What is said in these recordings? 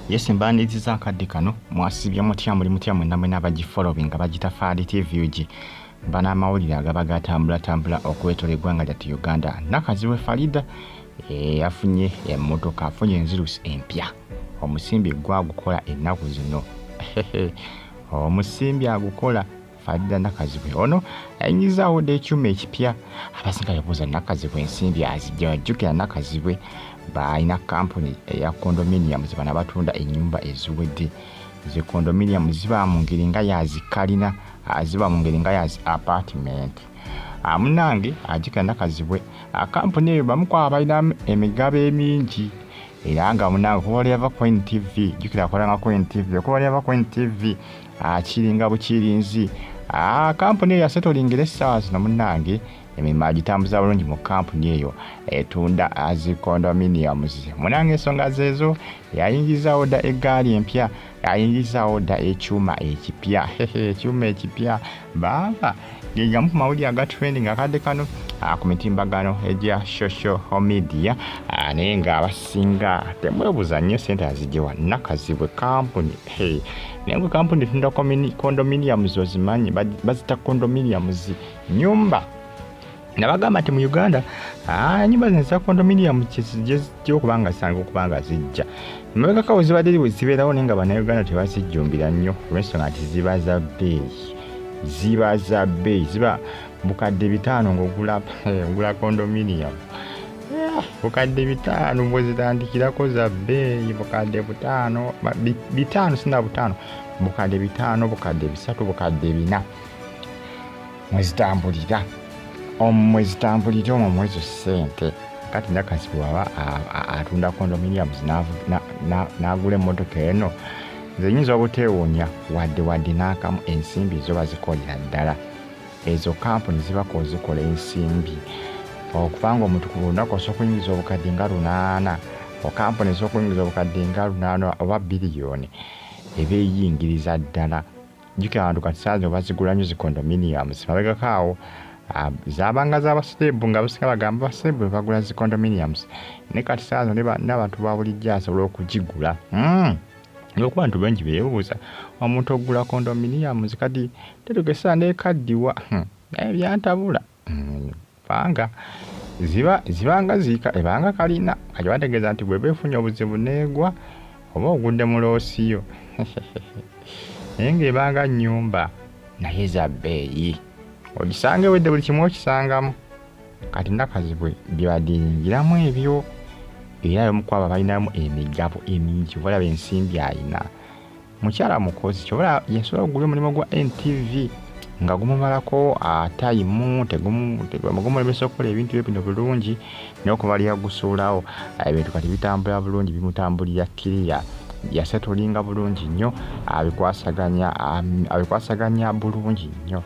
yesi mbandiziza akadde kano mwasibye mutya muli mutya mwena mwena abagifollowing nga bagitafaali tvug bana amawulire agaba gatambulatambula okwetola eggwanga lyattu uganda nakaziwe farida eh, afunye emmotoka afunye enzirusi empya omusimbi gwagukola ennaku zino omusimbi agukola Fadda Nakazibwe ono ayingizzaawo dda ekyuma ekipya abasinga yabuuza Nakazibwe ensimbi azijja wajjukira Nakazibwe baalina kampuni eya condominium ze bana batunda ennyumba eziwedde ze condominium ziba mu ngeri nga yazikalina ah, ziba mu ngeri nga yazi apartment ah, munange ajjukira Nakazibwe ah, kampuni eyo bamukwaba balina emigabo emingi era nga munange okuba wali yava ku ntv jjukira akolanga ku ntv okuba wali yava ku ntv akiringa bukirinzi ah, kampuni eyo yasetolingira essaawa zino munnange emirimu agitambuza bulungi mu kampuni eyo etunda zi condominiums munanga ensonga zeezo yayingizawo dda eggaali empya yayingizawo dda ekyuma ekipya ekyuma ekipya baaba gegamu ku mawulire aga trending akadde kano ah, ku mitimbagano egya social media ah, naye nga abasinga temwebuza nnyo sente azijewa nakazibwe kampuni naye gwe kampuni tunda condominiums ozimanyi bazita condominiums nyumba nabagamba nti mu uganda ah, nyumba zino za condominium gyezijja okuba nga zisanga okuba nga zijja emabegaka we zibadde zibeerawo naye nga banauganda tebazijjumbira nnyo olwensonga nti ziba za bbeeyi ziba za bbeeyi ziba bukadde bitaano ngaogula eh, condominium eh, bukadde bitaano bwezitandikirako za bbeeyi bukadde butaano bitaano sina butaano bukadde bitaano bukadde bisatu bukadde bina mwezitambulira mwezitambulira omwo mwezo sente kati nakasi bwaba atunda condominiums nagula emotoka eno zenyinza obuteewunya wadde wadde n'akamu ensimbi zo bazikolera ddala ezo kampuni zibako ozikola ensimbi okuba nga omuntu ku lunaku osobola okuyingiza obukadde nga lunaana okampuni esobola okuyingiza obukadde nga lunaana oba biliyoni eba eyingiriza ddala jjukira abantu kati saazi bazigula nyo zicondominiums mabegako awo ah, zabanga zabaserebu nga basinga bagamba baserebu bebagula zicondominiums naye kati saazi nabantu babulijjo asobola okugigula hmm. olwokuba ntu bengi bebuuza omuntu okugula condominiums kati tetugesaa nekaddiwa hmm. naye byantabula kubanga ziba zibanga ziika ebanga kalina kati bategeeza nti bweba efunye obuzibu neegwa oba ogudde mu loosiyo naye ng'ebanga nnyumba naye za bbeeyi ogisanga ewedde buli kimu okisangamu kati nakazibwe byebadiringiramu ebyo era yomukwaba balinamu emigabo emingi obalaba ensimbi alina mukyala mukozi kyobola yasobola okugula omulimu gwa ntv nga gumumalako atayimu gumulemesa okukola ebintu bye bino bulungi nokumalira gusuulawo ebintu kati bitambula bulungi bimutambulira kiriya yasetolinga bulungi nnyo abikwasaganya abikwasaganya bulungi nnyo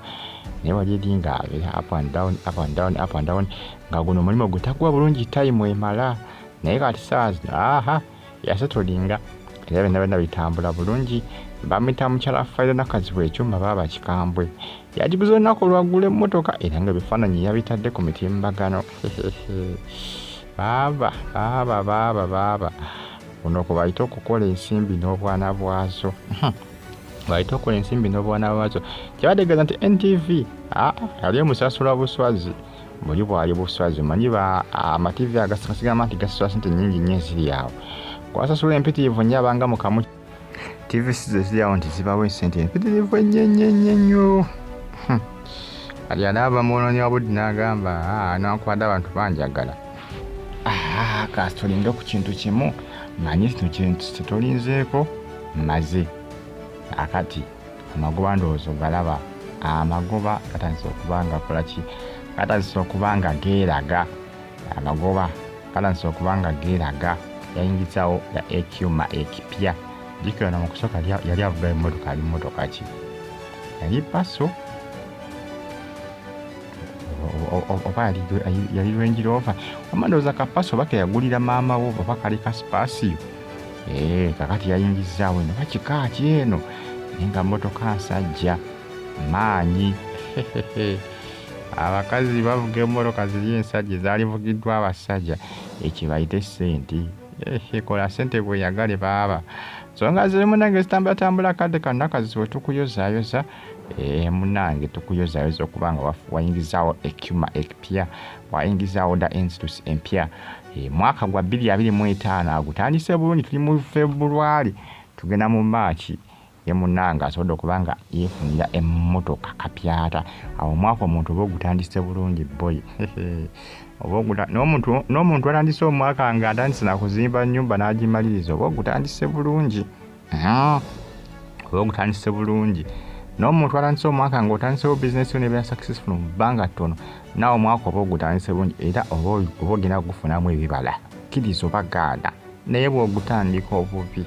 naye wali eri nga abeera up and down up and down up and down nga guno omulimu gwe takuwa bulungi tayimu emala naye kati saawa zino aha yasetolinga era byonna byonna bitambula bulungi bamuyita mukyala faira nakazibwa ekyuma baaba kikambwe yagiguza olunaku olwaggula emmotoka era nga ebifaananyi yabitadde ku mitimbagano baaba baaba baaba baaba kuno kwe bayita okukola ensimbi n'obwana bwazo bayita okukola ensimbi n'obwana bwazo kyebategeeza nti ntv ah, yali omusasula buswazi buli bwali buswazi omanyi amativi agasigamba nti gasasula sente nyingi nnyo eziri awo kwasasula empitirivu nnyo abanga mukamu tivi sizo eziri awo nti zibawo esente empitirivu ennyenyenyenyo hm. ali anaaba mwonoonyi wa budde n'agamba ah, nankwada abantu banjagala ah, kasi tulinde ku kintu kimu manyi kino kintu kye tulinzeeko maze akati amagoba ndowoozo galaba amagoba gatandise okuba nga kolaki gatandise okuba nga geeraga amagoba gatandise okuba nga geeraga yayingizawo ya ekyuma ekipya jikirana mu kusooka yali avuga emmotoka ali mmotoka ki yali paso oba yali lwenjirova omandowooza kapaso oba keyagulira maama wo oba kali kasipasiyo ee eh, kakati yayingizzaawo eno bakika ki eno naye nga mmotoka nsajja maanyi abakazi bavuga emmotoka ziri ensajja ezaalivugiddwa abasajja ekibayite sente ekola sente bweyagale baaba songa ziri munange zitambulatambula kadde kanakazi wetukuyozayoza eh, munange tukuyozayoza okubanga wayingizaawo ekyuma ekipya wayingizaawo da ensitus empya E, mwaka gwa bbiri abiri mu etaano agutandise bulungi tuli mu february tugenda mu maaki ye munange asobodde okuba nga yefunira emmotoka kapyata awo omwaka omuntu oba ogutandise bulungi boyi n'omuntu atandise omwaka nga atandise nakuzimba nyumba n'agimaliriza oba ogutandise bulungi Ah, oba ogutandise bulungi n'omuntu atandise omwaka ng'otandisewo bizinesi yo nebeera successful mu bbanga ttono naawe omwaka oba ogutandise bulungi era oba ogenda kugufunamu ebibala kkiriza oba gaana naye bw'ogutandika obubi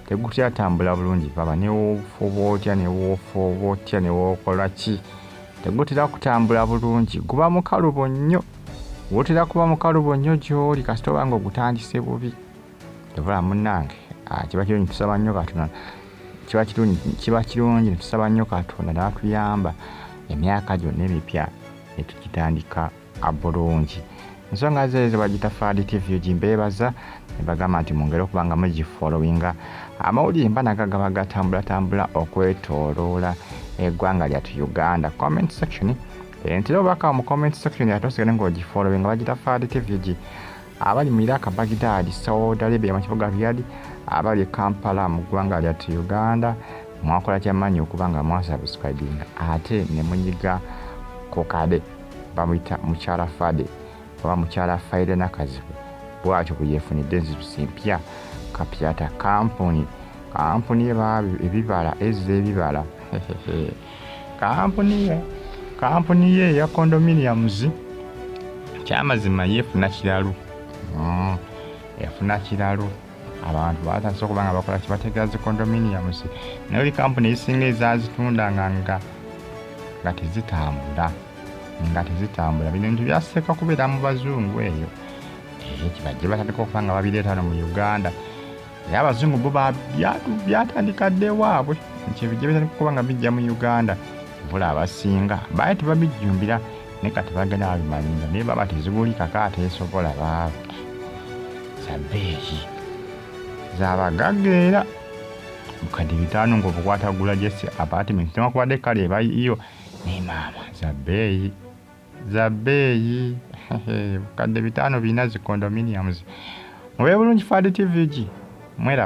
tegutyatambula bulungi baba newoofuba otya newoofuba otya newookola ki tegutera kutambula bulungi guba mukalubo nnyo wotera kuba mukalubo nnyo gy'oli kasita oba nga ogutandise bubi tebula munange ah, kiba kirungi tusaba nnyo katonda kiba kirungi kiba kirungi netusaba nnyo katonda natuyamba emyaka gyonna emipya netukitandika bulungi ensonga zeezo bagita fadi tv gimbeebaza nebagamba nti mungere okuba nga mugifolowinga amawulire mba naga gaba gatambulatambula okwetoloola eggwanga lyatu uganda comment section entera obubaka mu comment section yatosigale ngaogifolowinga bagita fadi tv gi abali mu iraq bagidadi saudi arabia mu kibuga riyadi abali e kampala mu ggwanga lyattu uganda mwakola kyamanyi okuba nga mwasubscribinga ate ne munyiga ku kade bamuyita mukyala fade oba mukyala faire nakazibu bwatyo bwe yefunidde enzitusi mpya kapyata kampuni kampuni ebibala ezza ebibala kampuni ye kampuni ye eya condominiums kyamazima yeefuna kiralu mm. yafuna kiralu abantu batandise okuba nga bakola kibategera zi condominiums naye oli kampuni ezisinga ezazitunda nga nga nga tezitambula nga tezitambula bino bintu byaseeka kubeera mu bazungu eyo eh, kibajje batandika okuba nga babireeta no mu uganda naye abazungu bo byatandika dda ewaabwe nti ebijja bitandika okuba nga bijja mu uganda bula abasinga baye tebabijjumbira ne kati bagenda babimalinga naye baba tezibulikaako ateesobola baaba zabeeyi zabagagga era bukadde bitaano ngaobukwatagula jesi apartment newakubadde kale ebaiyo ne maama zabeeyi za bbeeyi bukadde bitaano birina zi condominiums mube bulungi fad tvg mweraba